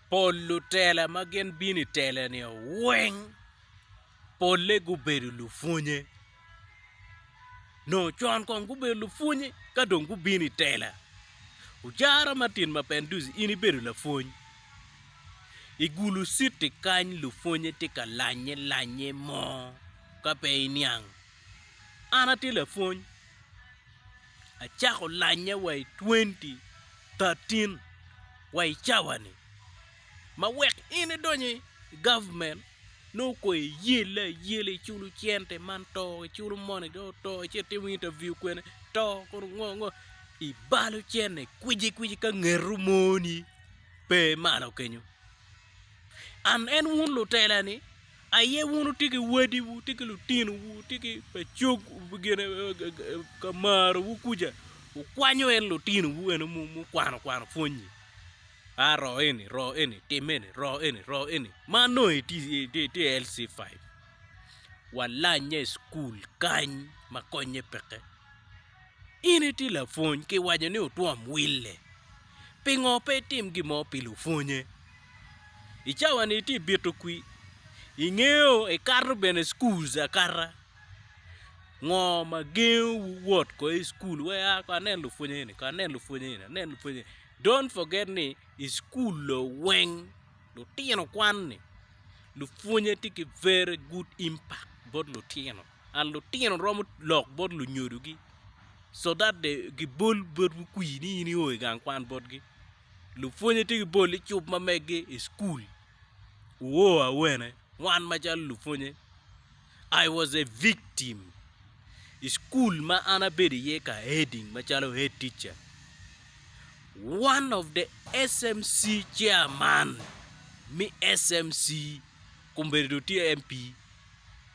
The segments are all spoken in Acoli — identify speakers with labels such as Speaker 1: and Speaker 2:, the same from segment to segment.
Speaker 1: pol lutela ma gin bino i tela-ni weng polle gubedo lupwonye. Nongo con kong gubedo lupwonye ka dong gubino i tela. Ojara Martin Mapendus in ibedo lapwony, igulu citi kany lupwonye tye ka lanye lanye mo ka pe iniang. An atye lapwony Acako lanye wa i 2013 wa i cawa-ni ma wek in idony i gavment nongo kong iyelle ayela iculo cente man to iculo moni do to ice itimo interview kwene to kono ngo ngo ibalo cene kwici kwici ka ngeto moni pe malo kenyo an en wun lutela-ni Aye wun wutye ki wadiwu, wutye ki lutinowu, wutye ki ka marowu kuca, wukwanyo en lutinowu eno mukwano kwano pwonyi. A ro eni, ro eni, tim eni, ro eni, ro eni. Ma nongo itye LC5. Walanye i cukul kany ma konnye peke. In itye lapwony, kiwaco ni otwom wille. Pingo pe itim gin mo pi lupwonye? I cawani itye bito kwi? Ingeyo ikato bene schools akata? Ngo ma gengo wu wot ko i school wai a ko anen lupwonye eni ko anen lupwonye eni anen lupwonye eni don't forget ni i school lo weng lutino kwan ni lupwonye tye ki very good impact bot lutino. and lutino romo lok bot lunyodogi, so that they gibol botwu kwir ni in io i gang kwan botgi. Lupwonye tye gibol i cub ma meggi i school. Wuo awene, wan macalo lupwonye, I was a victim. I school ma an abedo iye ka heading macalo head teacher, one of the SMC chairman me SMC, kombedo do tye MP,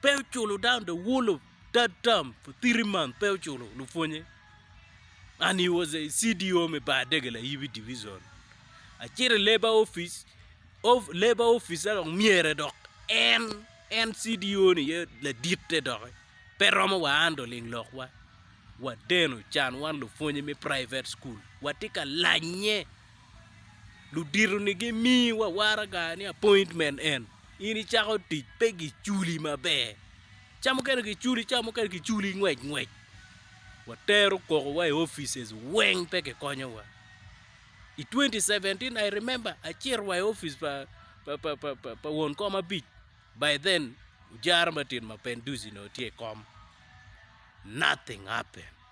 Speaker 1: Pe oculo down the whole of that term for three months pe oculo lupwonye and he was a CDO me bar degel ayibi division acito i labour office of labour officer dok myere dok en en CDO ni ye laditte dok pe romo wa an do ling lok wa wadeno can wan lupwonye me private school watye ka lanye ludito ni gi mi wa waraga ni appointment en in i cako tic pe gi culi maber ca mukene ki culi ca mukene ki culi ngwec ngwec wa tero koko wa i offices weng pe ki konyo wa i 2017 I remember a cito wa i office pa pa won kom abic by then ojara matin ma penduzi onongo tye i kom nothing happened.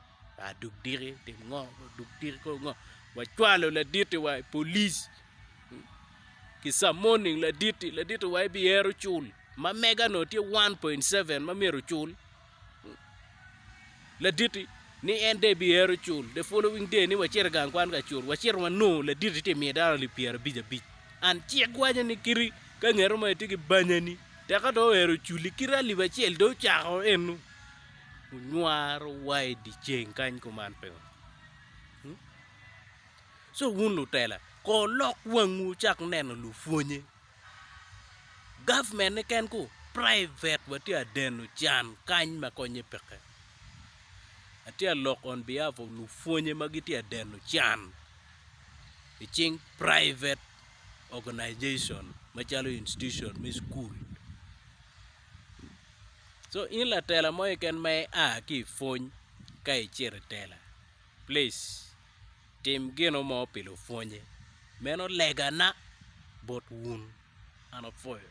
Speaker 1: dog diki tim ngo dog diki kor ngo wacwalo laditi wa i polic ki camoning laditi laditi wa ibi ero cul ma mega onongo tye 1.7 ma myero ocul laditi ni en dong ibi ero cul the following day ni wacit i gang kwan ka cul wacito wanongo laditi tye ka miyo dano alip pyera abic abic and cik waco ni kadi ka ngeto mere tye ki banya ni teka dong oero oculi kadi alip acel dong ocako eno onywaro wa i dye ceng kany kuman pe ngo? Ci wun lutela kono wulok wangwu wucak neno lupwonnye. Gavment niken ku private wa tye ka deno can kany ma konnye peke. Atye ka lok on behalf of lupwonnye ma gitye ka deno can i cing private organization macalo institution me cukul. so in latela mo keken ma ia ki i pwony ka icito i tela plic tim gino mo pi lupwonye meno legana bot wun an apwoyo.